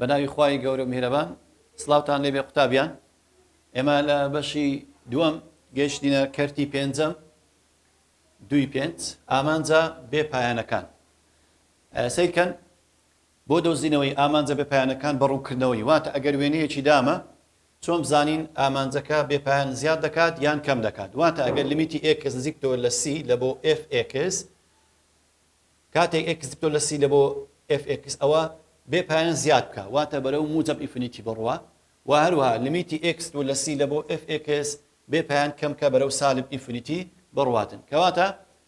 بەناوی خوای گەورە و میهرەبان سڵاوتان لێبێ قوتابیان ئێمە لە بەشی دووەم گەیشتینە کەرتی پێنجەم دوی پێنج ئامانجە بێ پایانەکان سەیر کەن، بۆ دۆزینەوەی ئامانجە بێ پایانەکان بە ڕوونکردنەوەی، واتە ئەگەر وێنەیەکی دامە، چۆن بزانین ئامانجەکە بێ پایان زیاد دەکات یان کەم دەکات؟ واتە ئەگەر لیمیتی ئێکس نزیکبتەوە لە سی لە بۆ ئێف ئێکس، کاتێک ئێکس نزیکبتەوە لە سی لە بۆ ئێف ئێکس، ئەوا بێ پایان زیاد بکە، واتە بەرەو موجەب ئینفینیتی بڕوا، و هەروەها لیمیتی ئێکس دوور لە سی لە بۆ ئێف ئێکس، بێ پایان کەم کە بەرەو سالب ئینفنیتی بڕواتن کەواتە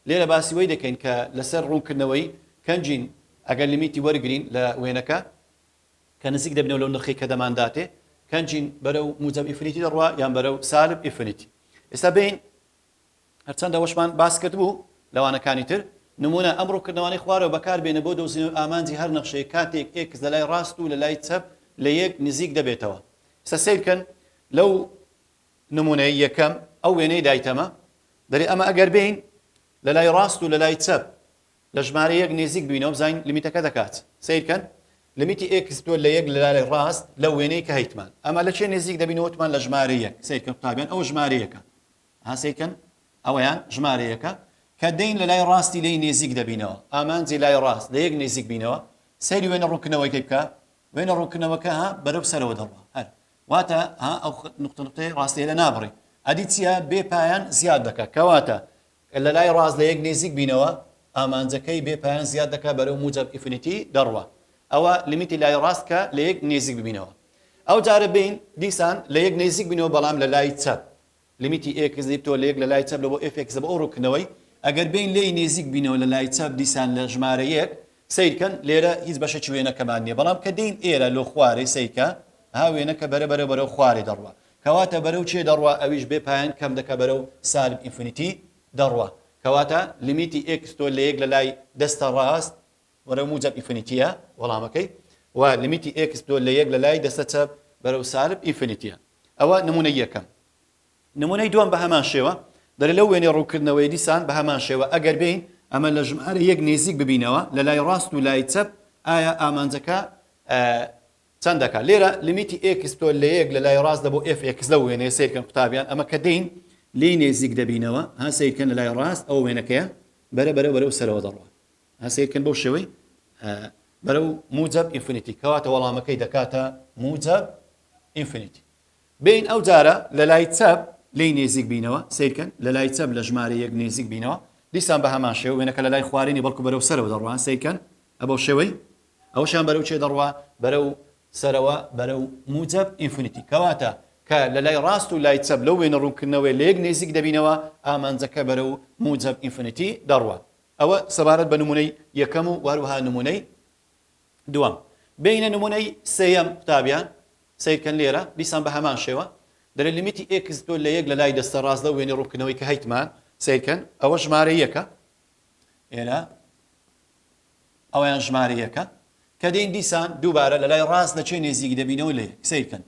لێرە باسی وەی دەکەین کە لەسەر ڕوونکردنەوەی کەنجین ئەگەر لیمیتی وەرگرین لە وێنەکە کە نزیک دەبینەوە لەو نرخەی کە دەمانداتێ کەنجین بەرەو موجەب ئینفنیتی دەڕوا یان بەرەو سالب ئینفنیتی ئێستا بین هەرچەند ئەوەشمان باس کرد بوو لەوانەکانی تر نمونە ئەم ڕووکردنەوانی خوارەوە بەکار بێنە بۆ دۆزینەوە ئامانجی هەر نەخشەیە کاتێک ئێکس لە لای ڕاست و لە لای چەپ لە یەک نزیک دەبێتەوە سەسیرکەن لەو نمونەی یەکەم ئەو وێنەی دایتەمە دەرێ ئەمە ئەگەر بێین لە لای ڕاست و لە لای چەپ لە ژمارە یەک نێزیک بینەوە بزانین لمیتەکە دەکات سیرکەن لمیتی ئێکس دوە لە یەک لە لای ڕاست لە وێنەی کە هەیتمان ئەمە لە چێ نێزیک دەبینە وتمان لە ژمارە یەک سیرکە قوتابیان ئەو ژمارە یەکە هەسیکەن ئەوەیان ژمارە یەکە کە دەین لە لای ڕاستی لی نێزیک دەبینەوە ئامانجی لای ڕاست لە یەک نێزیک بینەوە سەیری وێنە ڕوونکردنەوەی بکە وێنە ڕوونکردنەوەکە ها بەرەو سەرەوە دەڕوە هەر واتە ها ئەو نقطە نقطەی ڕاستەیە لە نابڕی ئەدی چیە بێ پایان زیاد دەکە کەواتە لە لای ڕاز لە یەک نێزیک بینەوە ئامانجەکەی بێ پایان زیاد دەکە بەرەو موجب ئیفنیتی دەڕوە ئەوە لیمیتی لای ڕاست کە لە یەک نێزیک ببینەوە ئەو جارە بین دیسان لە یەک نێزیک بینەوە بەڵام لە لای چەپ لیمیتی ئێکس لیپتۆ لە یەک لە لای چەپ لە بۆ ئێف ئێکس لە بۆ ئەو ڕووکردنەوەی ئەگەر بێین لێی نێزیک بینەوە لە لای چەپ دیسان لە ژمارە یەک سەیرکەن لێرە هیچ بەشێکی وێنەکەمان نیە بەڵام کە دێین ئێرە لۆ خوارێ سەیکە ها وێنەکە بەرە بەرە بەرەو خوارێ دەڕوا کەواتە بەرەو چێ دەڕوا ئەویش بێ پایان کەم دەکە بەرەو سالب ئینفینیتی دەڕوا کەواتە لیمیتی ئێکس تۆ لە یەک لە لای دەستە ڕاست وەرەو موجەب ئینفینیتیە وەڵامەکەی و لیمیتی ئێکس دۆ لە یەک لە لای دەستە چەپ بەرەو سالب ئینفینیتیە. ئەوە نمونەی یەکەم. نمونەی دووەم بە هەمان شێوە. دەرێ لەو وێنەی ڕوونکردنەوەیە دیسان بە هەمان شێوە ئەگەر بێین ئەمە لە ژمارە یەک نێزیک ببینەوە لە لای ڕاست و لای چەپ ئایا ئامانجەکە چەند دەکا لێرە لیمیتی ئێکس دۆ لە یەک لە لای ڕاست دە بۆ ئێف ئێکس لەو وێنەیە سەیر کەن قوتابیان ئەمە کە دێین لێی نێزیک دەبینەوە ها سەیر کەن لە لای ڕاست ئەوە وێنەکەیە بەرە بەرە بەرەو سەرەوە دەڕوا ها سەیر کەن بەو شێوەی بەرەو موجەب ئینفینیتی کەواتە وەڵامەکەی دەکاتە موجەب ئینفینیتی بین ئەو جارە لە لای چەپ لی نێزیک بینەوە سیرکەن لە لای چەپ لە ژمارە یەک نێزیک بینەوە دیسان بە هەمان شێوە وێنەکە لە لای خوارێنی بەڵکو بەرەو سەرەوە دەڕوان سیرکەن ئەبەو شێوەی ئەوشان بەرەو چێ دەڕوا بەرەو سەرەوە بەرەو موجەب ئینفینیتی کەواتە کە لە لای ڕاست و لای چەپ لەو وێنە ڕوونکردنەوەی لە یەک نێزیک دەبینەوە ئامانجەکە بەرەو موجەب ئینفینیتی دەڕوە ئەوە سەبارەت بە نموونەی یەکەم و وەهروەها نموونەی دووەم. بێینە نموونەی سێیەم قوتابیان، سەیر کەن لێرە دیسان بە هەمان شێوە دەلێ لمیتی ئێکس تۆ لە یەک لە لای دەستە ڕاست لەو وێنەی ڕوونکردنەوەی کە هەیتمان، سەیر کەن ئەوە ژمارە یەکە، ئێرە ئەوەیان ژمارە یەکە، کە دێین دیسان دووبارە لە لای ڕاست لە چێ نێزیک دەبینەوە لە یەک، سەیر کەن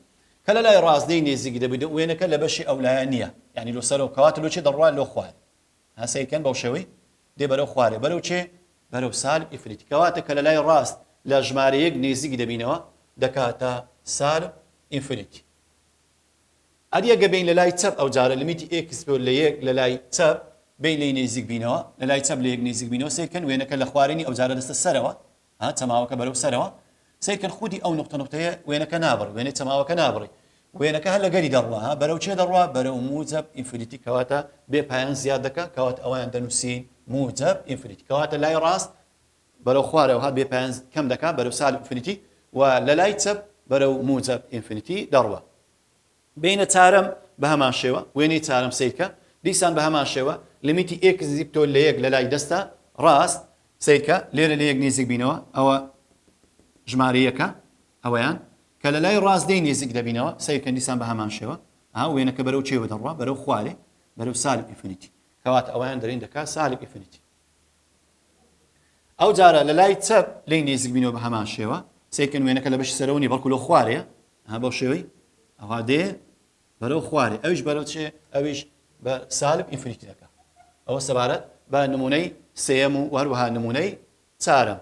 کە لە لای ڕاست لێی نێزیک دەبین وێنەکە لە بەشی ئەولایە نییە، یانی لۆ سەرەوە کەواتە لۆ چێ دەڕوات لۆ خوار. ها سەیر کەن بەو شێوەی دێ بەرەو خوارێ بەرەو چێ بەرەو سالب ئینفینیتی کەواتە کە لە لای ڕاست لە ژمارە یەک نیزیک دەبینەوە دەکاتە سالب ئینفینیتی ئەدی ئەگە بین لە لای چەپ ئەو جارە لمیتی ئێکس بۆ لە یەک لە لای چەپ بین لێی نێزیک بینەوە لە لای چەپ لە یەک نێزیک بینەوە سەیر کەن وێنەکە لە خوارێنی ئەو جارە دەستە سەرەوە ها چەماوەکە بەرەو سەرەوە سەیرکەن خودی ئەو نوقتە نوقتەیە وێنەکە نابڕی وێنەی چەماوەکە نابڕی وێنەکە هەر لەگەری دەڕوا ها بەرەو چێ دەڕوا بەرەو موجەب ئینفینیتی کەواتە بێ پایان زیاد دەکا کەواتە ئەوەیان دەنووسین موجەب ئینفینیتی کەواتە لای ڕاست بەرەو خوارەوە ها بێ پایان کەم دەکا بەرەو سالب ئینفینیتی و لەلای چەپ بەرەو موجەب ئینفینیتی دەڕوا. بینە تارم بە هەمان شێوە، وێنەی چارەم سەیرکە، دیسان بە هەمان شێوە، لمیتی ئێکس نزیک تۆ لە یەک لە لای دەستە ڕاست، سەیرکە، لێرە لە یەک نیزیک بینەوە، ئەوە ژمارە یەکە، ئەوەیان، کە لە لای ڕاست دەی نیزیک دەبینەوە، سەیرکەن دیسان بە هەمان شێوە، ئەها وێنەکە بەرەو چیەوە دەڕوا، بەرەو خوارێ، بەرەو سالب ئیفنیتی، کەواتە ئەوەیان دەرێن دەکا سالب ئیفنیتی. ئەوجارە لە لای چەپ لێی نیزیک بینەوە بە هەمان شێوە، سەیرکەن وێنەکە لە بەشی سەرەوە نیە بەڵکو لەو خوارێیە، ها بەو شێوەی ئەوا دێ بەرەو خوارێ ئەویش بەرەو چێ ئەویش بە سالب ئینفینیتی دەکا ئەوە سەبارەت بە نمونەی سێەم و وەروەها نمونەی چارەم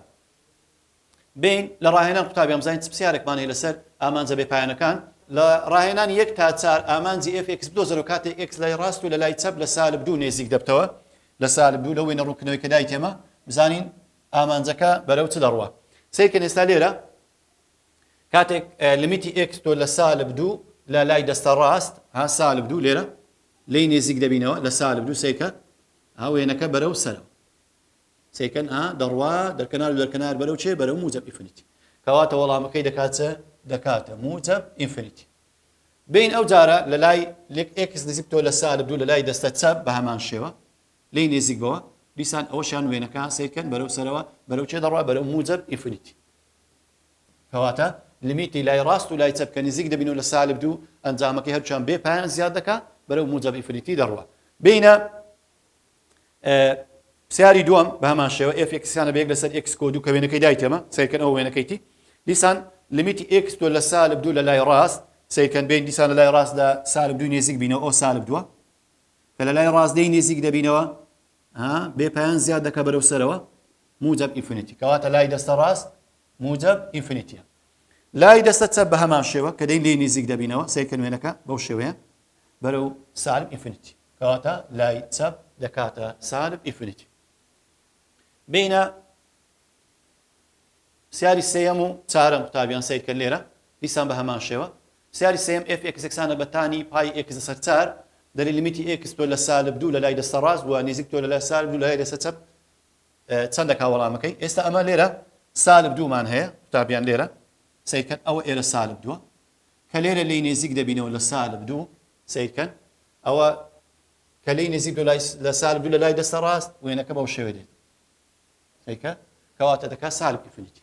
بین لە ڕاهێنان قوتابی ئەمزانین چ پرسیارێکمان هەیە لەسەر ئامانجە بێ پایانەکان لە ڕاهێنان یەک تا چار ئامانجی FX بدۆزەر و کاتێک X لای ڕاست و لە لای چەپ لە سالب دوو نێزیک دەبتەوە لە سالب دوو لەوەی نەڕوونکردنەوەی کە دایتێمە بزانین ئامانجەکە بەرەو چ دەڕوە سیرکە نێستا لێرە کاتێک لیمیتی ئێکس تۆ لە سالب دوو لە لای دەستە ڕاست ها سالب دوو لێرە لی نێزیک دەبینەوە لە سالب دوو سەیکە ها وێنەکە بەرە و سەرەوە سەیکەن ها دەڕوا دەرکەنار و دەرکەنار بەرەو چێ بەرە و موجب ئیفنیتی کەواتە وەڵامەکەی دەکاتە دەکاتە موجب ئینفنیتی بین ئەو جارە لە لای لێک ئکس نزیک تۆ لە سالب دوو لە لای دەستە چەپ بە هەمان شێوە لی نێزیک بەوە دیسان ئەوەشان وێنەکە سیرکەن بەرەو سەرەوە بەرەو چێ دەڕوا بەرەو موجب ئیفنیتی کەواتە لمیتی لای ڕاست و لای چەپ کە نزیک دەبین و لە سالب دوو ئەنجامەکەی هەردووکیان بێ پایان زیاد دەکا بەرەو موجەب ئیفریتی دەڕوا بینە پسیاری دووەم بە هەمان شێوە ئێف ئێکسیانە بە یەک لەسەر ئێکس کۆ دوو کە وێنەکەی دایتێمە سیرکەن ئەو وێنەکەیتی دیسان لمیتی ئێکس تۆ لە سالب دوو لە لای ڕاست سیرکەن بین دیسان لە لای ڕاست لە سالب دوو نێزیک بینەوە ئەو سالب دووە کە لە لای ڕاستدەی نێزیک دەبینەوە ها بێ پایان زیاد دەکا بەرەو سەرەوە موجب ئینفینیتی کەواتە لای دەستە ڕاست موجب ئینفینیتیە لای دەستە چەپ بە هەمان شێوە کە دەی لێی نزیک دەبینەوە سەیرکە نوێنەکە بەو شێوەیە بەرەو سالب ئینفینیتی کەواتە لای چەپ دەکاتە سالب ئینفینیتی بینە سیاری سێەم و چارەم قوتابیان سیرکە لێرە دیسان بە هەمان شێوە پرسیاری سێیەم، ئێف ئێکس یەکسانە بە تانی پای ئێکس لەسەر چار، دەلێ لیمیتی ئێکس تۆ لە سالب دوو لە لای دەستە ڕاست و نیزیک تۆ لە لای سالب دوو لە لای دەستە چەپ چەندە کا وەڵامەکەی؟ ئێستا ئەمە لێرە سالب دوو مان هەیە قوتابیان لێرە سەیر کەن ئەوە ئێرە سالب دووە کە لێرە لێی نێزیک دەبینەوە لە سالب دوو سەیر کەن ئەوە کە لێی نێزیک دو لای لە سالب دوو لە لای دەستە ڕاست وێنەکە بەو شێوێ دێت سەیکە کەواتە دەکات سالب ئیفنیتی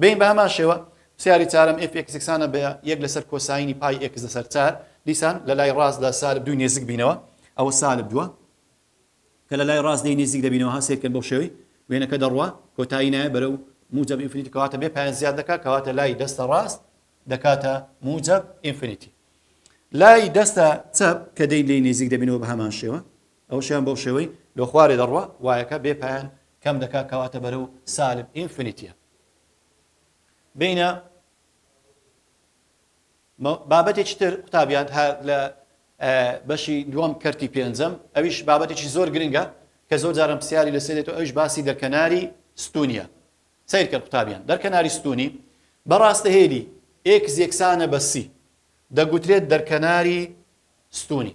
بەین بە هەمان شێوە پسیاری چارەم ئێف ئێکس یەکسانە بە یەک لەسەر کۆساینی پای ئێکس لەسەر چار، دیسان لە لای ڕاست لە سالب دووی نێزک بینەوە ئەوە سالب دووە کە لە لای ڕاست لێی نێزیک دەبینەوە ها سەیرکەن بەو شێوەی وێنەکە دەڕوا کۆتایی نایە بەرەو موجەب ئینفینیتی کەواتە بێ پایان زیاد دەکا کەواتە لای دەستە ڕاست دەکاتە موجەب ئینفینیتی لای دەستە چەپ کە دەی لێی نێزیک دەبینەوە بە هەمان شێوە ئەوشیان بەو شێوەی لۆ خوارێ دەڕوا وایەکە بێ پایان کەم دەکا کەواتە بەرەو سالب ئینفنیتیە بینە بابەتێکی تر قوتابیان هەر لە بەشی دووەم کەرتی پێنجەم ئەویش بابەتێکی زۆر گرنگە کە زۆر جارم پرسیاری لە سێرێت و ئەوش باسی دەرکەناری ستونیە سیرکە قوتابیان دەرکەناری ستونی بەڕاستە هێلی ئێکس یەکسانە بە سی دەگوترێت دەرکەناری ستونی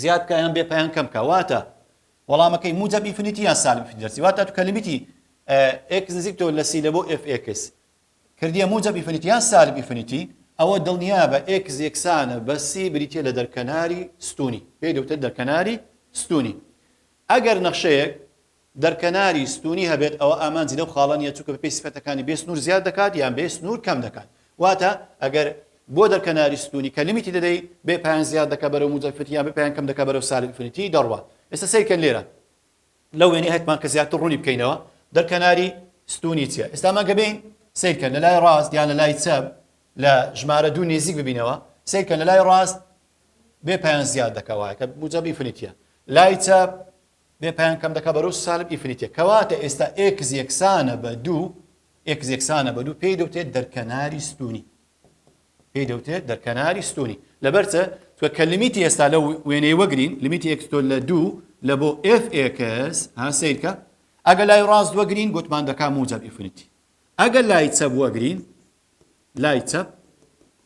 زیاد بکە یان بێ پەیان کەم بکە واتە وەڵامەکەی موجب ئینفینیتی یان سالب ئینفینیتی دەرچی واتە تو کە لیمیتی ئێکس نزیک تۆ لە سی لە بۆ ئێف ئێکس کردیە موجب ئینفینیتی یان سالب ئینفینیتی ئەوە دڵنیا بە ئێکس یەکسانە بە سی بریتە لە دەرکەناری ستونی پێی دەوتە دەرکەناری ستونی ئەگەر نەخشەیەک دەرکەناری ستوونی هەبێت ئەوە ئامانجی لەو خاڵە نییە چونکە بەپێی سفەتەکانی بێ سنوور زیاد دەکات یان بێ سنوور کەم دەکات واتە ئەگەر بۆ دەرکەناری ستوونی کە لیمیتی دەدەی بێ پایان زیاد دەکات بەرەو موجەب ئینفینیتی یان بێ پایان کەم دەکات بەرەو سالب ئینفینیتی دەڕوات ئێستا سەیر کەن لێرە لەو وێنەی هەتمان کە زیاتر ڕوونی بکەینەوە دەرکەناری ستوونی چییە ئێستا ئەمانگە بێین سەیر کەن لە لای ڕاست یان لە لای چەپ لە ژمارە دوو نێزیک ببینەوە سەیر کەن لە لای ڕاست بێ پایان زیاد دەکات وایە کە موجەب ئینفینیتیە لای چەپ بێ پایان کەم دەکا بەرەو سالب ئیفریتێ کەواتە ئێستا ئێکس یەکسانە بە دوو ئێکس یەکسانە بە دوو پێی دەوتێت دەرکەناری ستونی پێی دەوتێت دەرکەناری ستونی لەبەرچە تۆ کە لمیتی ئێستا لە وێنەی وەگرین لمیتی ئێکستۆ لە دوو لە بۆ ئف ئێکس ها سیرکە ئەگە لای ڕاست وەگرین گوتمان دەکا موجب ئیفریتی ئەگەر لای چەپ وەگرین لای چەپ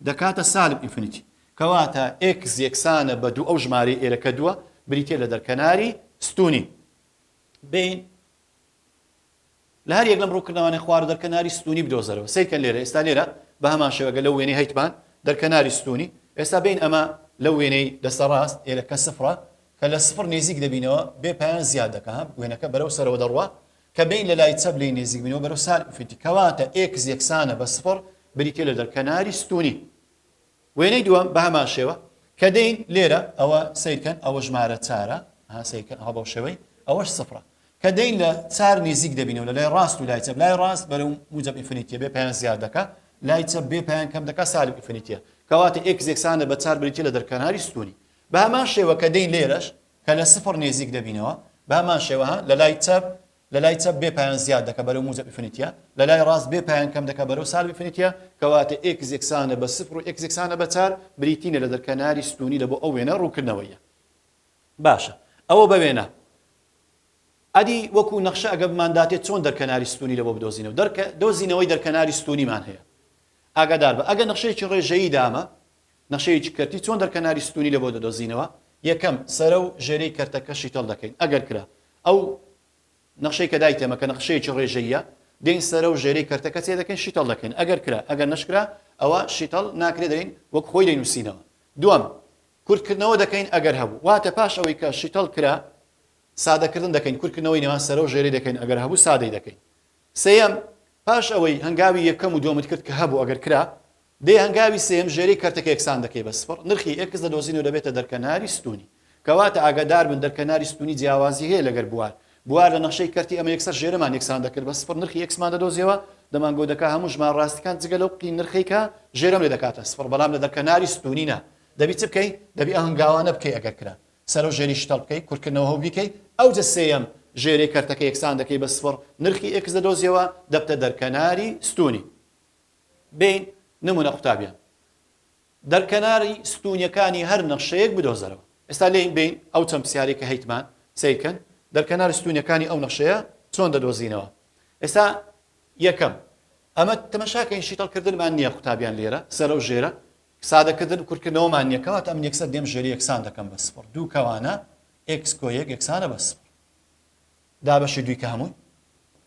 دەکاتە سالب ئینفینیتی. کەواتە ئێکس یەکسانە بە دوو ئەو ژمارەی ئێرە کە دووە بریتییە لە دەرکەناری ستوونی بین. لە هەر یەک لەم ڕووکردنەوانەی خوار و دەرکەناری ستوونی بدۆزەرەوە. سەیر کەن لێرە ئێستا لێرە بە هەمان شێوە گەر لەو وێنەی هەیتمان دەرکەناری ستوونی ئێستا بین ئەمە لەو وێنەی دەستە ڕاست ئێرە کە سفرە کە لە سفر نێزیک دەبینەوە بێ پایان زیاد دەکا وێنەکە بەرەو سەرەوە دەڕوا کە بین لە لای چەپ لێی نێزیک بینەوە بەرەو سال ئینفینتی کەواتە ئێکس یەکسانە بە سفڕ بریتیە لە دەر کەناری ستونی وێنەی دووەم بە هەمان شێوە کە دین لێرە ئەوە سیرکەن ئەوە ژمارە چارە ها سیرکەن ئەوە بەو شێوەی ئەوەش سفرە کە دین لە چار نێزیک دەبینەوە لە لای ڕاست و لای چەپ لای ڕاست بەرەو موجب ئینفینیتیە بێ پێیان زیاد دەکا لای چەپ بێ پێیان کەم دەکا سالب ئینفینیتیە کەواتە ئێکس یەکسانە بە چار بریتیە لە دەرکەناری ستونی بە هەمان شێوە کە دین لێرەش کە لە سفر نێزیک دەبینەوە بە هەمان شێوە ها لە لای چەپ لە لای چەپ بێ پایان زیاد دەکە بەرەو موجە بفنیتە لە لای ڕاست بێ پایان کەم دەکە بەرەو سال بفنیتە کەواتە ئێکس یەکسانە بە سفر و ئێکس یەکسانە بە چار بریتینە لە دەرکەناری ستونی لە بۆ ئەو وێنە ڕووکردنەوەیە باشە ئەوە بە وێنە ئەدی وەکو نەخشە ئەگە بمانداتێ چۆن دەرکەناری ستونی لە بۆ بدۆزینەوە دەرکە دۆزینەوەی دەرکەناری ستونیمان هەیە ئاگادار بە ئەگە نەخشەیەکی ڕێژەیی دامە نەخشەیەکی کەرتی چۆن دەرکەناری ستوونی لەبۆ دەدۆزینەوە؟ یەکەم، سەرە و ژێرەی کەرتەکە شیتەڵ دەکەین، ئەگەر کرا. ئەو نەخشەی کە دایتێمە کە نەخشەیەکی ڕێژەییە، دێین سەرە و ژێرەی کەرتەکە چێ دەکەین شیتەڵ دەکەین، ئەگەر کرا، ئەگەر نەشکرا ئەوا شیتەڵ ناکرێ دەین وەک خۆی دەینووسینەوە. دووەم، کورتکردنەوە دەکەین ئەگەر هەبوو، واتە پاش ئەوەی کە شیتەڵ کرا سادەکردن دەکەین، کورتکردنەوەی نێوان سەرە و ژێرەی دەکەین ئەگەر هەبوو سادەی دەکەین. سێیەم، پاش ئەوەی هەنگاوی یەکەم و دووەمت کرد کە هەبوو ئەگەر کرا، دەی هەنگاوی سێیەم ژێرەی کەرتەکە یەکسان دەکەی بە سفڕ، نرخی ئێکس دەدۆزینەوە دەبێتە دەرکەناری ستوونی. کەواتە ئاگاداربن دەرکەناری ستوونی جیاوازی هەیە لەگەر بوار. بوار لە نەخشەی کەرتی ئەمە یەکسەر ژێرەمان یەکسان دەکرد بە سفڕ نرخی ئێکسمان دەدۆزیەوە، دەمانگۆت دەکات هەموو ژمارە ڕاستیەکان جگە لەو قی نرخەی کە ژێرەم لێ دەکاتە سفڕ بەڵام لە دەرکەناری ستوونی نا. دەبی چ بکەی؟ دەبی ئەو هەنگاوانە بکەی ئەگەر کرا سەرەو ژێری شتەڵ بکەی کورتکردنەوە هەو بیکەی ئەوجە سێیەم ژێرەی کەرتەکە یەکسان دەکەی بە سفڕ، نرخی ئێکس دەدۆزیەوە دەبتە دەرکەناری ستوونی. بێین نمونە قوتابیان دەر کەناری ستونیەکانی هەر نەخشەیەک بدۆزەرەوە ئێستا لێین بێین ئەو چەند پسیارەی کە هەیتمان سەیرکەن دەر کەناری ستونیەکانی ئەو نەخشەیە چۆن دەدۆزینەوە ئێستا یەکەم ئەمە تەمەشاکەین شیتەڵ کردنمان نییە قوتابیان لێرە سەرە و ژێرە سادەکردن کورتکردنەوەمان نییە کەواتە ئەم یەکسەر دێم ژێری یەکسان دەکەم بە سفر دوو کەوانە ئێکس کۆ یەک یەکسانە بە سفر دا بەشی دووی کە هەمووی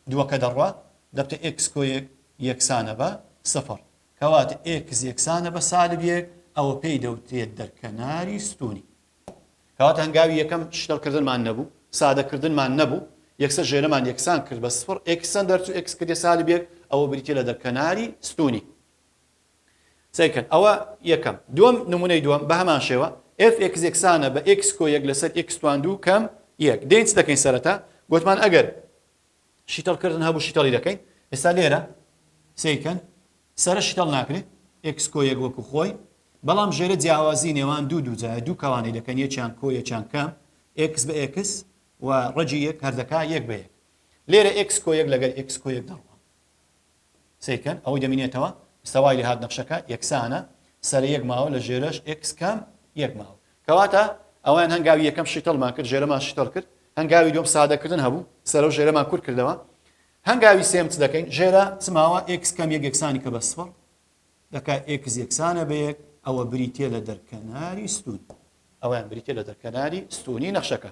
دووەکە دەڕوا دەبتە ئێکس کۆیەک یەکسانە بە سفڕ کەواتە ئێکس یەکسانە بە سالب یەک ئەوە پێی دەوترێت دەرکەناری ستوونی کەواتە هەنگاوی یەکەم شتەڵ کردنمان نەبوو سادە کردنمان نەبوو یەکسەر ژێرەمان یەکسان کرد بە سفڕ ئێکس چەند دەرچوو ئێکس کردە سالب یەک ئەوە بریتیە لە دەرکەناری ستوونی. سەیرکەن ئەوە یەکەم دووەم نمونەی دووەم بە هەمان شێوە ئێف ئێکس یەکسانە بە ئێکس کۆ یەک لەسەر ئێکس توان دوو کەم یەک دێین چ دەکەین سەرەتا گوتمان ئەگەر شیتەڵ کردن هەبوو شیتەڵی دەکەین ئێستا لێرە سەیرکەن سەرە شیتەڵ ناکرێت ئێکس کۆ یەک وەکو خۆی بەڵام ژێرە جیاوازی نێوان دوو دووجایە دوو کەوانەی دەکەن یەکیان کۆ یەکیان کەم ئێکس بە ئێکس و ڕەجی یەک هەردەکا یەک بە یەک لێرە ئێکس کۆ یەک لەگەر ئێکس کۆ یەک دەڕوە سەیرکەن ئەوەی دەمینێتەوە ئیستا وای لێهات نەخشەکە یەکسانە سەرە یەک ماوە لە ژێرەش ئێکس کام یەک ماوە کەواتە ئەوان هەنگاوی یەکەم شیتەڵمان کرد ژێرەمان شیتەڵ کرد هەنگاوی دوم سادەکردن هەبوو سەرە و ژێرەمان کورت کردەوە هەنگاوی سێم چ دەکەین ژێرە چماوە ئێکس کەم یەک یەکسانی کە بە سفر دەکا ئێکس یەکسانە بە یەک ئەوە بریتە لە دەرکەناری ستون ئەویان بریتە لە دەرکەناری ستونی نەخشەکە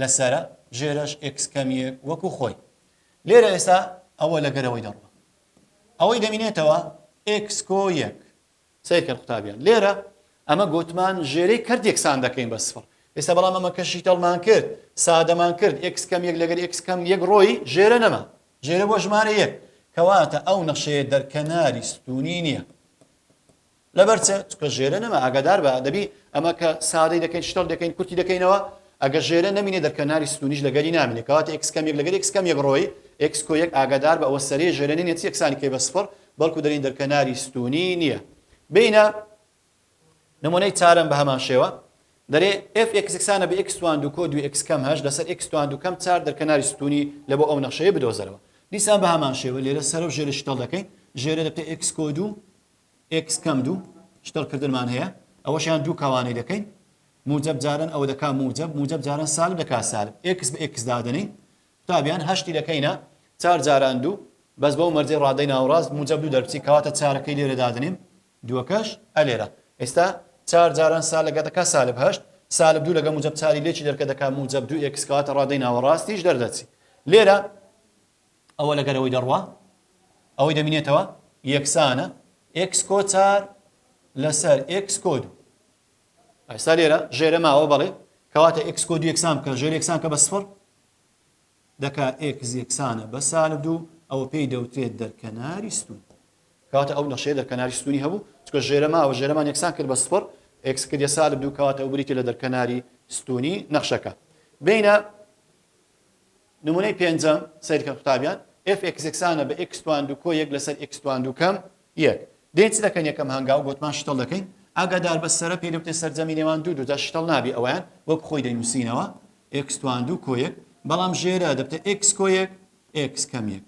لەسەرە ژێرەش ئێکس کەمیەک وەکو خۆی لێرە ئێسا ئەوە لەگەرەوەی دەڕوە ئەوەی دەمینێتەوە ئێکس کۆ یەک سەیرکەن قوتابیان لێرە ئەمە گوتمان ژێرەی کەرت یەکسان دەکەین بە سفر ئێستا بەڵام ئەمە کەشی تەڵمان کرد سادەمان کرد ئکس کەم یەک لەگەر ئکس کەم یەک ڕۆی ژێرە نەما ژێرە بۆ ژمارە یەک کەواتە ئەو نەخشەیە دەرکەناری ستونی نییە لەبەر چ چکە ژێرە نەما ئاگادار بە دەبی ئەمە کە سادەی دەکەین شتەڵ دەکەین کورتی دەکەینەوە ئەگە ژێرە نمینێ دەرکەناری ستونیش لەگەری نامینێ کەواتە ئکس کەمێک لەگەر ئکس کەمێک ڕۆی ئکس کۆ یەک ئاگادار بە ئەوە سەرێ ژێرە نێت یەکسانی کەی بە سفر بەڵکو دەرین دەرکەناری ستونی نییە بینە نمونەی چارم بە هەمان شێوە دەرێ ئف ئکسسانە بە ئکسوان دو کۆ دو ئکس کەم هەش لەسەر ئکسوان دو کەم چار دەرکەناری ستونی لە بۆ ئەو نەخشەیە بدۆزەرەوە دیسان بە هەمان شێوە لێرە سەرۆ ژێرە شتەڵ دەکەین ژێرە دەکە ئکس کۆ دوو ئێکس کەم دوو شتەل کردنمان هەیە ئەوەشیان دوو کەوانەی دەکەین موجب جارن ئەوە دەکا موجب موجب جارن سالب دەکا سالب ئێکس بە ئێکس دادەنین قوتابیان هەشتی دەکەینە چار جاران دوو بەس بەو مەرجەی ڕادەی ناوڕاست موجب دوو دەرچی کەواتە چارەکەی لێرە دادنین دووەکەش ئەلێرە ئێستا چار جاران سال لەگە دەکا سالب هەشت سالب دوو لەگە موجب چاری لێکی دەرکە دەکا موجب دوو ئێکس کەواتە ڕادەی ناوەڕاستیش دەردەچی لێرە ئەوە لەگەر ئەوەی دەڕوا ئەوەی دەمینێتەوە یەکسانە ئێکس کۆ چار لەسەر ئێکس کۆ دوو ئەستا لێرە ژێرە ماوە بەڵێ کەواتە ئێکس کۆ دوو یەکسان بکە ژێر یەکسان کە بە سفر دەکا ئێکس یەکسانە بە سالب دوو ئەوە پێی دەوترێت دەرکەناری ستون کاتە ئەو نەخشەیە دەرکەناری ستونی هەبوو چکە ژێرە ماوە ژێرەمان یەکسان کرد بە سفر ئێکس کردە سالب دوو کەواتە ئەو بریتی لە دەرکەناری ستونی نەخشەکە بینە نمونەی پێنجەم سەیرکەن قوتابیان، ئێف ئێکس یەکسانە بە ئێکس توان دوو کۆ یەک لەسەر ئێکس توان دوو کەم یەک. دێین چ دەکەین یەکەم هەنگاو بۆتمان شتڵ دەکەین، ئاگاداربە سەرە پێی دەوترێت سەرجەمی نێوان دوو دوودا شتڵ نابێ ئەوەیان وەک خۆی دەینوسینەوە ئێکس توان دوو کۆ یەک بەڵام ژێرە دەبتە ئێکس کۆ یەک ئێکس کەم یەک.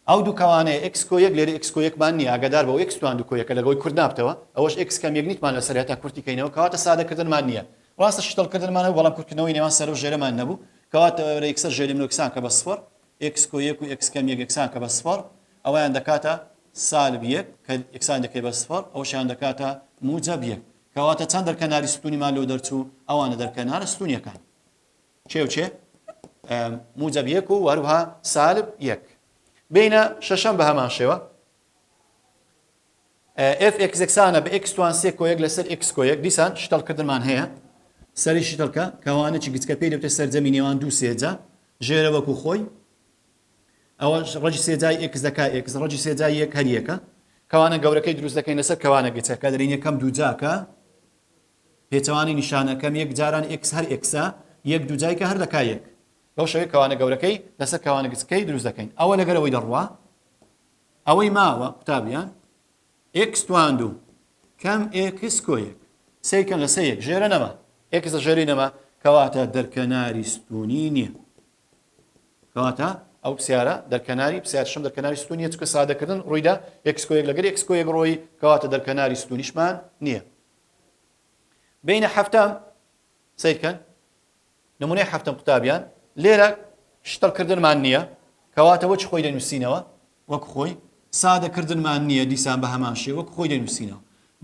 ئەو دوو کەوانەیە ئێکس کۆ یەک لێرە ئێکس کۆ یەکمان نیە ئاگادار بە و ئێکس توان دوو کۆ یەکە لەگەوەی کورت نابتەوە ئەوەش ئێکس کەم یەک نیتمان لەسەر هەتا کورتی کەینەوە کەواتە سادە کردنمان نیە ڕاستە شتەل کردنمان هەبوو بەڵام کورت کردنەوەی نێوان سەرەو ژێرەمان نەبوو کەواتە ئەرە یەکسەر ژێرمنۆ یەکسان کە بە سفر ئێکس کۆ یەک و ئێکس کەم یەک یەکسان کە بە سفر ئەوەیان دەکاتە سالب یەک کە یەکسان دەکەی بە سفر ئەوەشیان دەکاتە موجەب یەک کەواتە چەند دەرکەناری ستونیمان لۆ دەرچوو ئەوانە دەرکەنارە ستونیەکان. چێ و چێ موجەب یەک و هەروها سالب یەک بینە شەشەم بە هەمان شێوە ئف ئکس یەکسانە بە ئکس توان سێ کۆیەک لەسەر ئکس کۆیەک دیسان شتەڵکردنمان هەیە سەری شتەڵکە کەوانەی گچکە پێی دەوتە سەرجەمی نێوان دوو سێجا ژێرە وەکو خۆی ئەوە ڕەجی سێجای ئکس دەکا ئکس ڕەجی سێجای یەک هەریەکە کەوانە گەورەکەی دروست دەکەین لەسەر کەوانە گچەکە دەرین یەکەم دووجاکە پێچەوانەی نیشانەکەم یەک جاران ئێکس هەر ئێکسە یەک دوو جایکە هەر دەکا یەک. بەو شێوەیە کەوانە گەورەکەی لەسەر کەوانە گچکەی دروست دەکەین ئەوە لەگەر ئەوەی دەڕوا ئەوەی ماوە قوتابیان ئێکس توان دوو کەم ئێکس کۆ یەک سەی کەم لە سەی یەک ژێرە نەما ئێکس لە ژێری نەما کەواتە دەرکەناری ستونی نییە کەواتە ئەو پرسیارە دەرکەناری پرسیارشم دەرکەناری ستونیە چکە سادەکردن ڕوویدا ئێکسکۆیەک لەگەر ئێکسکۆیەک ڕۆی کەواتە دەرکەناری ستونیشمان نییە بینە حەفتەم سیرکەن نمونەی حەفتەم قوتابیان لێرە شتەڵکردنمان نییە کەواتە وەچ خۆی دەنووسینەوە وەک خۆی سادەکردنمان نییە دیسان بە هەمان شێ وەک خۆی دەنووسینەوە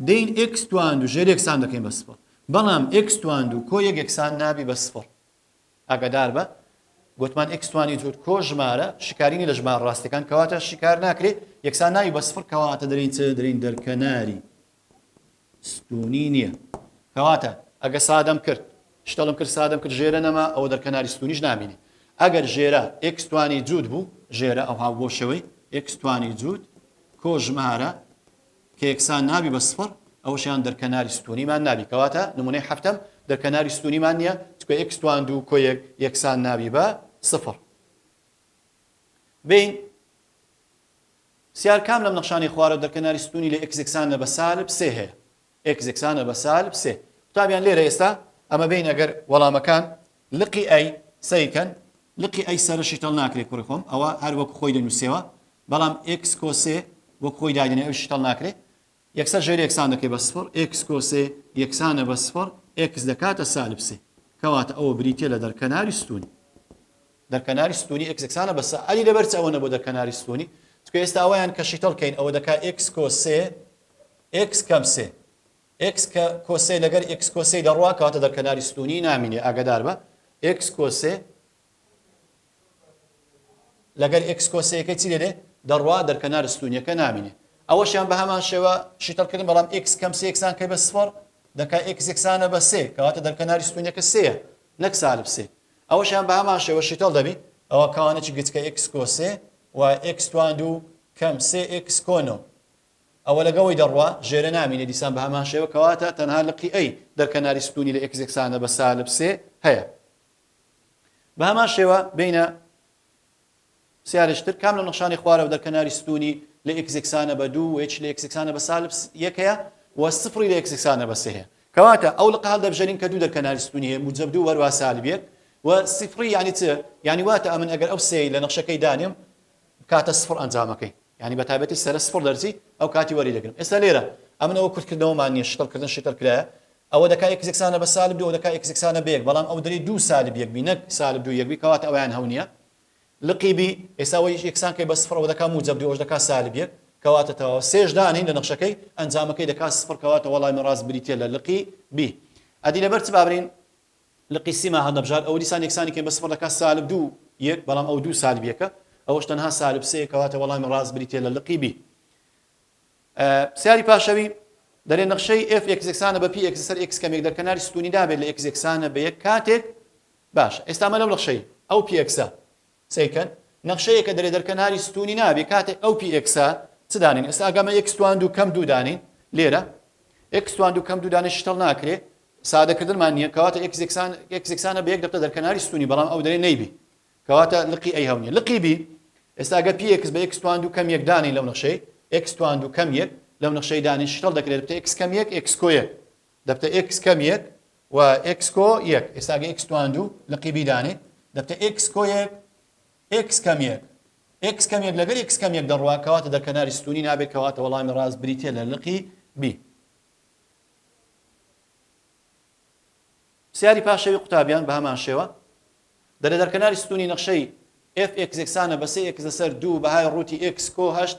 دین ئکس توان و ژێر یەکسان دەکەین بە سفر بەڵام ئکس توان و کۆ یەک یەکسان نابی بە سفر ئاگادار بە گوتمان ئکسوانی جوور کۆ ژمارە شکارینی لە ژمار ڕاستەکان کەواتە شکار ناکرێت یەکسان ناوی بە سفر کەواتە دەرین چ دەرین دەرکەناری ستونی نیە کەواتە ئەگە سادەم کرد شتەلم کرد سادەم کرد ژێرە نەما ئەوە دەرکەناری ستونیش نامینێ ئەگەر ژێرە ئێکس توانی جووت بوو ژێرە ئەوها بۆ شەوەی ئێکس توانی جووت کۆ ژمارە کە یەکسان نابی بە سفر ئەوشیان دەرکەناری ستونیمان نابی کەواتە نمونەی هەفتم دەرکەناری ستونیمان نییە چکە ئێکس توان دوو کۆیەک یەکسان نابی بە سفر بین سیار کام لەم نەخشانەی خوارەوە دەرکەناری ستوونی لە ئێکس یەکسانە بە سالب سێ هەیە؟ ئێکس یەکسانە بە سالب سێ. قوتابیان لێرە ئێستا ئەمە بێین ئەگەر وەڵامەکان لقی ئەی سەیر کەن، لقی ئەی سەرە شیتەڵ ناکرێ کوڕی خۆم، ئەوە هەر وەک خۆی دەنووسێەوە، بەڵام ئێکس کۆسێ وەک خۆی دایدەنێ ئەویش شیتەڵ ناکرێ. یەکسەر ژێر یەکسان دەکەی بە سفڕ، ئێکس کۆ سێ یەکسانە بە سفڕ، ئێکس دەکاتە سالب سێ. کەواتە ئەوە بریتییە لە دەرکەناری ستوونی. دەرکەناری ستوونی ئێکس یەکسانە بە سە. ئەدی لەبەر چ ئەوە نەبووە دەرکەناری ستوونی؟ چونکە ئێستا ئەوەیان کە شیتەڵ کەین ئەوە دەکا ئێکس کۆ سێ ئێکس کەم سێ. ئێکس کە کۆ سێ لەگەر ئێکس کۆ سێی دەڕوا کەواتە دەرکەناری ستوونی نامینێ ئاگەدار بە ئێکس کۆ سێ لەگەر ئێکس کۆسەیەکەی چی دەێ دەڕوا دەرکەنار ستونیەکە نامینێ ئەوەشیان بە هەمان شێوە شیتەڵ کردن بەڵام ئێکس کەم سێکسان کە بە سفەر دەکا ئێکس یەکسانە بە سێ کەواتە دەرکەناری ستونیەکە سەیە نەک سالب سێ ئەوەشیان بە هەمان شێوە شیتەڵ دەبی ئەوە کاوانێکی گچکە ئێکس کۆسێ و ئێکس توان دوو کەم سێ ئێکس کۆنۆ ئەوە لەگەوەی دەڕوا ژێرە نامینێ دیسان بە هەمان شێوە کەواتە تەنها لقی ئەی دەرکەناری ستونی لە ئێکس یەکسانە بە سالب سێ هەیە بە هەمان شێوە بینە سیارشتر کام لە نەخشانی خوارەوە دەرکەناری ستونی لە ئکسکسانە بە دوو وچ لە ئکسکسانە بە سالب یەکەیە و سفری لە ئکسکسانە بە سێ کەواتە ئەو لە قال دەبژێرین کە دوو دەرکەناری ستونی هەیە موجب دوو وەروا سالب یەک و سفری یعنی چ یعنی واتە ئەمن ئەگەر ئەو سێی لە نەخشەکەی دانێم بکاتە سفر ئەنجامەکەی یانی بەتایبەتی سەرە سفر دەرچی ئەو کاتی وەری دەگرم ئێستا لێرە ئەمن ئەوە کورت کردنەوەمان نیە شتڵ کردن شتر کرایە ئەوە دەکا ئێکس یەکسانە بە سالب دوو ئەو دەکا ئێکس یەکسانە بە یەک بەڵام ئەو دەری دوو سالب یەک بی نەک سالب دوو یەک بی کەواتە ئەویان هەو نییە لقی بی ئێستا ئەوەی یەکسان کەی بە سفر ئەوە دەکا موجەب دوو ئەوش دەکا سالب یەک کەواتە تەواو سێش دانین لە نەخشەکەی ئەنجامەکەی دەکا سفر کەواتە وەڵامی ڕاست بریتییە لە لقی بی ئەدی لەبەر چ بابرین لقی سیما هەڵنەبژارد ئەوە دیسان یەکسانی کەین بە سفڕ دەکات سالب دوو یەک بەڵام ئەوە دوو سالب یەکە ئەوەش تەنها سالب سێیە کەواتە وەڵامی ڕاست بریتیە لە لقی بی پرسیاری پاشەوی دەرێ نەخشەی F x یەکسانە بە پی x سەر x کەمێک دەرکەناری ستونی دابێت لە x یەکسانە بە یەک کاتێک باش ئێستا مە لەم نەخشەی ئەو پی x سەیرکە نەخشە یەکە دەرێ دەرکە ناری ستونی نابێ کاتێ ئەو پی ئێکسە چ دانێن ئێستا ئەگەمە ئێکس توان دوو کەم دوو دانێین لێرە ئێکس توان دوو کەم دوو دانێ شتەڵ ناکرێ سادەکردنمان نییە کەواتە ئێکس یەکسان ئێکس یەکسانە بە یەک دەقە دەرکە ناری ستونی بەڵام ئەو دەرێ نەیبی کەواتە لقی ئەی هەونیە لقی بی ئێستا گە پی ئێکس بە ئێکس توان دوو کەم یەک دانێین لەو نەخشەی ئێکس توان دوو کەم یەک لەو نەخشەی دانێ شتەڵ دەکرێت بتە ئێکس کەم یەک ئێکس کۆ یەک دەبتە ئێکس کەم یەک و ئێکس کۆ یەک ئێستا گە ئێکس تواند و لقی بیدانێ دەبتە ئێکس کۆ یەک ئێکس کەم یەک ئێکس کەم یەک لەگەر ئێکس کەم یەک دەڕوا کەواتە دە کەناری ستونی نابێت کەواتە وەڵامی ڕاست بریتە لە لقی بی سیاری پاشەوی قوتابیان بە هەمان شێوە دەرە دەرکەناری ستونی نەخشەی FX یەکسانە بە سێ ئێکس لەسەر دوو بەهای ڕووتی ئێکس کۆ هەشت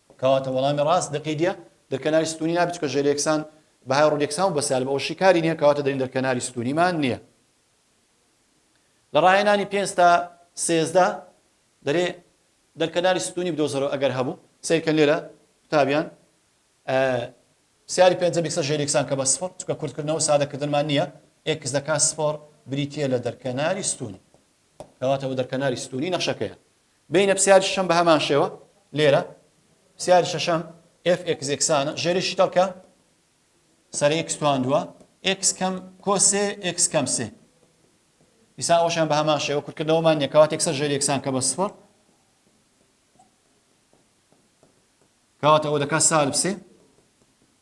کەواتە وەڵامی ڕاست دەقی دیە دەرکەناری ستونی نابێت چونکە ژێر یەکسان بەهای ڕوود یەکسان و بەسالب ئەوەشی کاری نیە کەواتە دەرین دەرکەناری ستونیمان نیە لە ڕاهێنانی پێنج تا سێزدە دەرێ دەرکەناری ستونی بدۆزەرەوە ئەگەر هەبوو سیرکەن لێرە قوتابیان سیاری پێنج بیکسە ژێر یەکسان کە بە سفر چکە کورتکردنەوە سادەکردنمان نییە ئێکس دەکات سفۆر بریتە لە دەرکەناری ستونی کەواتەوە دەرکەناری ستونی نەخشەکەیە بینە پسیاری شەشەم بە هەمان شێوە لێرە پسیاری شەشەم ئێف ئێکس ئێکسانە ژێری شیتەڵ کە سەر ئێکس تواندووە ئێکس کەم کۆسێ ئێکس کەم سێ ئیسا ئەوشان بە هەمان شێوە کورتکردنەوەمان یەکەوات یەکسەر ژێری یەکسان کە بە سفر کەواتەوە دەکات سالب سێ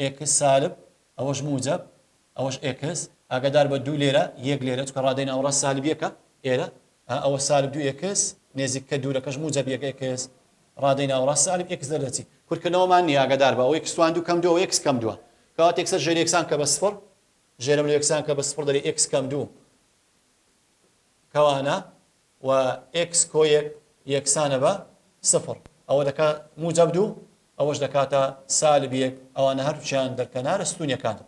ئێکس سالب، ئەوەش موجەب، ئەوەش ئێکس، ئاگادار بە دوو لێرە، یەک لێرە، چونکە ڕادەی ناوەڕاست سالب یەکە، ئێرە، ئا ئەوە سالب دوو ئێکس، نێزیککە دوورەکەش موجەب یەک ئێکس، ڕادەی ناوەڕاست سالب ئێکس دەردەچی، کورتکردنەوەمان نییە، ئاگادار بە، ئەوە ئێکس توان دوو کەم دوو، ئەوە ئێکس کەم دووە، کەواتە یەکسەر ژێر یەکسان بکە بە سفر، ژێرەملێ یەکسان بکە بە سفر دەرێ ئێکس کەم دوو، کەوانە، و ئێکس کۆ یەک یەکسانە بە سفر ئەوە دەکا موجەب دوو ئەوەش دەکاتە سالب یەک ئەوانە هەردووچیان دەرکەنارە ستونیەکانن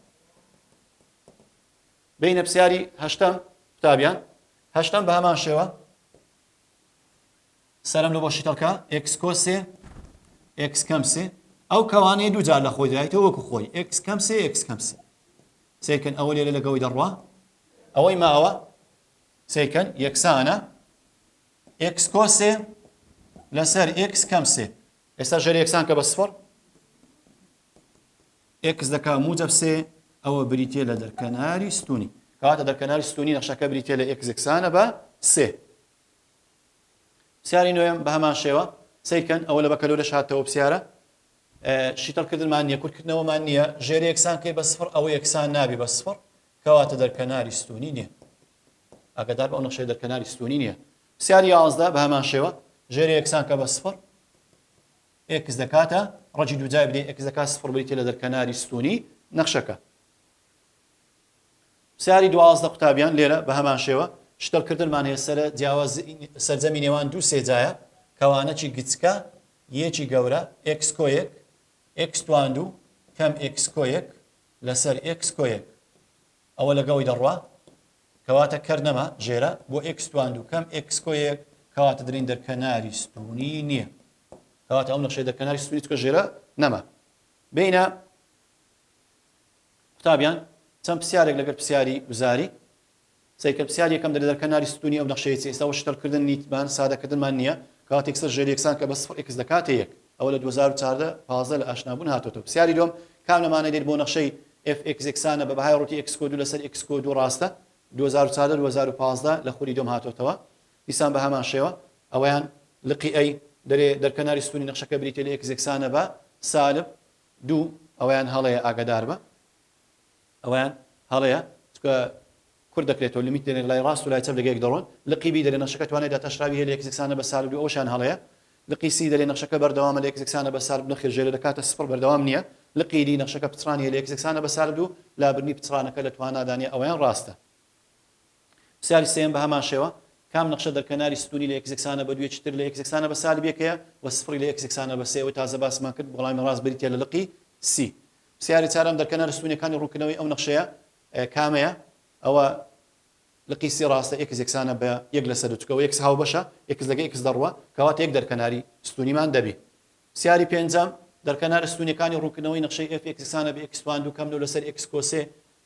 بینە پرسیاری هەشتەم قوتابیان هەشتەم بە هەمان شێوە سەرم لە بۆشی تەڵکە ئێکس کۆ سێ ئێکس کەم سێ ئەو کەوانەیە دوو جار لە خۆی دایتەوە وەکو خۆی ئێکس کەم سێ ئێکس کەم سێ سێکن ئەوە لێرە لەگەوەی دەڕوا ئەوەی ماوە سیکەن یەکسانە ئێکس کۆ سێ لەسەر ئێکس کەم سێ ئێستا ژەر یەکسان کە بە سفر ئێکس دەکا موجب سێ ئەوە بریتە لە دەرکەناری ستونی کاتە دەرکەناری ستونی نەخشەکە بریتە لە ئێکس یەکسانە بە سێ سیاری نوێم بە هەمان شێوە سیکەن ئەوە لە بەکەلۆ لە شاتەوە پرسیارە شیتەڵکردمان نیە کورتکردنەوەمان نییە ژێر یەکسان کەی بە سفر ئەوە یەکسان نابی بە سفر کەواتە دەرکەناری ستوونی نییە. ئاگادار بە ئەو نەخشەیە دەرکەناری ستوونی نییە. پرسیاری یازدە بە هەمان شێوە ژێرە یەکسان کە بە سفر ئێکس دەکاتە ڕەجی دووجای بدەین ئێکس دەکات سفر بریتە لە دەرکەناری ستوونی نەخشەکە. پرسیاری دوازدە قوتابیان لێرە بە هەمان شێوە شتەلکردنمان هەیە سەرە جیاواز سەرجەمی نێوان دوو سێجایە کەوانەکی گچکە یەکی گەورە ئێکس کۆیەک ئێکس توان دوو کەم ئێکس کۆیەک لەسەر ئێکس کۆیەک ئەوە لەگەڵی دەڕوا کەواتە کەر نەما ژێرە بۆ ئێکس توان دووکەم ئێکس کۆیەک کەواتە درین دەرکەناری ستونی نییە کەواتە ئەم نەخشەی دەرکەناری ستونی چکە ژێرە نەما بینە قوتابیان چەند پرسیارێک لەگەر پرسیاری وزاری سەیرکە پسیار یەکەم دەرە دەر کەناری ستونی ئەو نەخشەیە چیە ئیستا وە شتەل کردن نیت مان سادە کردن مان نیە کاتیک سەر ژێر یەکسان کە بە سفر ئیکس دەکاتە یەک ئەوە لە دوو هەزار و چاردە پازدە لە ئاشنا بون هاتۆتە و پسیاری دوەم کام لە مانە دێت بۆ نەخشەی ئێف ئیکس یەکسانە بە بەهای ڕوتی ئیکس کۆ دوو لە سەر ئیکس کۆ دوو ڕاستە دوو هەزار و چاردە دوو هەزار و پازدە لە خولی دوەم هاتۆتەوە دیسان بە هەمان شێوە ئەوەیان لقی ئەی دەرێ دەر کەناری ستونی نەخشەکە بریتیە لە ئیکس یەکسانە بە سالب دوو ئەوەیان هەڵەیە ئاگەدار بە. ئەوەیان هەڵەیە چونکە کورت دەکرێتەوە لمیت دێنێت لای ڕاست و لای چەپ لەگەیەک دەڕۆن لقی بی دەلێ نەخشەکە توانای داتاشراوی هەیە لە یەکس یەکسانە بە سالب دوو ئەوەشیان هەڵەیە لقی سی دەلێ نەخشەکە بەردەوامە لە یەکس یەکسانە بە سالب نەخێر ژێرە دەکاتە سفڕ بەردەوام نییە لقی دی نەخشەکە پچڕانی هەیە لە یەکس یەکسانە بە سالب دوو لابردنی پچڕانەکە لە توانادا نییە ئەوەیان ڕاستە پرسیاری سێیەم بە هەمان شێوە کام نەخشە دەرکەناری ستونی لە یەکس یەکسانە بە دوویەکی تر لە یەکس یەکسانە بە سالب یەکەیە و سفڕی لە یەکس یەکسانە بە سێ ئەوەی تازە باسمان کرد وەڵامی ڕاست بریتییە لە لقی سی پرسیاری چارەم، دەرکەنە رستوونەکانی روونکردنەوەی ئەو نەخشەیە کامەیە؟ ئەوە لقی سی راستە ئێکس یەکسانە بە یەک لە سەر دوو چکە و ئێکس هاوبەشە ئێکس لەگە ئێکس دەڕوا کەواتە یەک دەرکەناری ستوونیمان دەبی. پرسیاری پێنجەم، دەرکەنە رستوونەکانی روونکردنەوەی نەخشەی ئێف ئێکس یەکسانە بە ئێکس تواندوو کەم دوو لە سەر ئێکس کۆسێ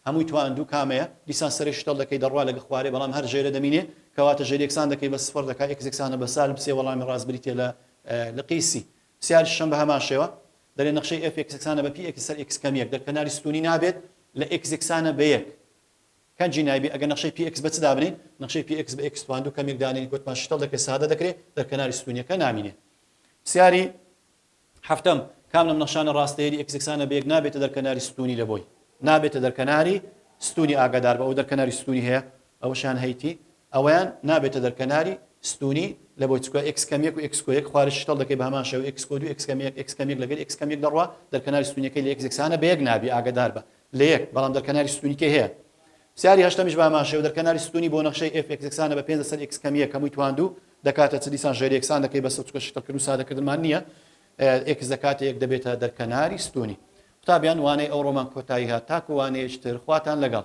هەمووی تواندوو کامەیە؟ دیسان سەرەی شتەڵ دەکەی دەڕوا لەگە خوارێ بەڵام هەر ژێرە دەمینێ کەواتە ژێریەکسان دەکەی بە سفڕ دەکا ئێکس یەکسانە بە سالب سێ وەڵامی راست بریتیە لە لقی سی. سیاری شەم بە هەمان شێوە دەلێ نەخشەی ئێف ئێکس یەکسانە بە پی ئێکس سەر ئێکس کەم یەک دەک کەناری ستوونی نابێت لە ئێکس یەکسانە بە یەک کەنجی نایبی ئەگەر نەخشەی پی ئێکس بە چ دابنێین نەخشەی پی ئێکس بە ئێکس توان دوو کەم یەک دانێین کە وتمان شتەڵ دەکرێت سادە دەکرێت دەک کەناری ستوونیەکە نامینێ سیاری هەفتەم کام لەم نەخشانە ڕاستەیەری ئێکس یەکسانە بە یەک نابێتە دەر کەناری ستوونی لە بۆی نابێتە دەر کەناری ستوونی ئاگادار بە ئەو دەر کەناری ستوونی هەیە ئەوەشیان هەیتی ئەوەیان نابێتە دەر کەناری ستوونی لە بۆی چکە ئێکس کەم یەک و ئێکس کۆ یەک خوارج شتەڵ دەکەی بە هەمان شێوە ئێکس کۆ دوو ئێکس کەم یەک ئێکس کەم یەک لەگەر ئێکس کەم یەک دەڕوا دەر کەناری ستوونیەکەی لە ئێکس یەکسانە بە یەک نابی ئاگەدار بە لە یەک بەڵام دەر کەناری ستوونی کەی هەیە پرسیاری هەشتەمیش بە هەمان شێوە دەر کەناری ستوونی بۆ نەخشەی ئێف ئێکس یەکسانە بە پێنج لەسەر ئێکس کەم یەک هەمووی تواندوو دەکاتە چ دیسان ژێر یەکسان دەکەی بەسە چکە شتەڵ کردن و سادە کردنمان نییە ئێکس دەکاتە یەک دەبێتە دەر کەناری ستوونی قوتابیان وانەی ئەو ڕۆمان کۆتایی هات تاکو وانەیەشتر خواتان لەگەڵ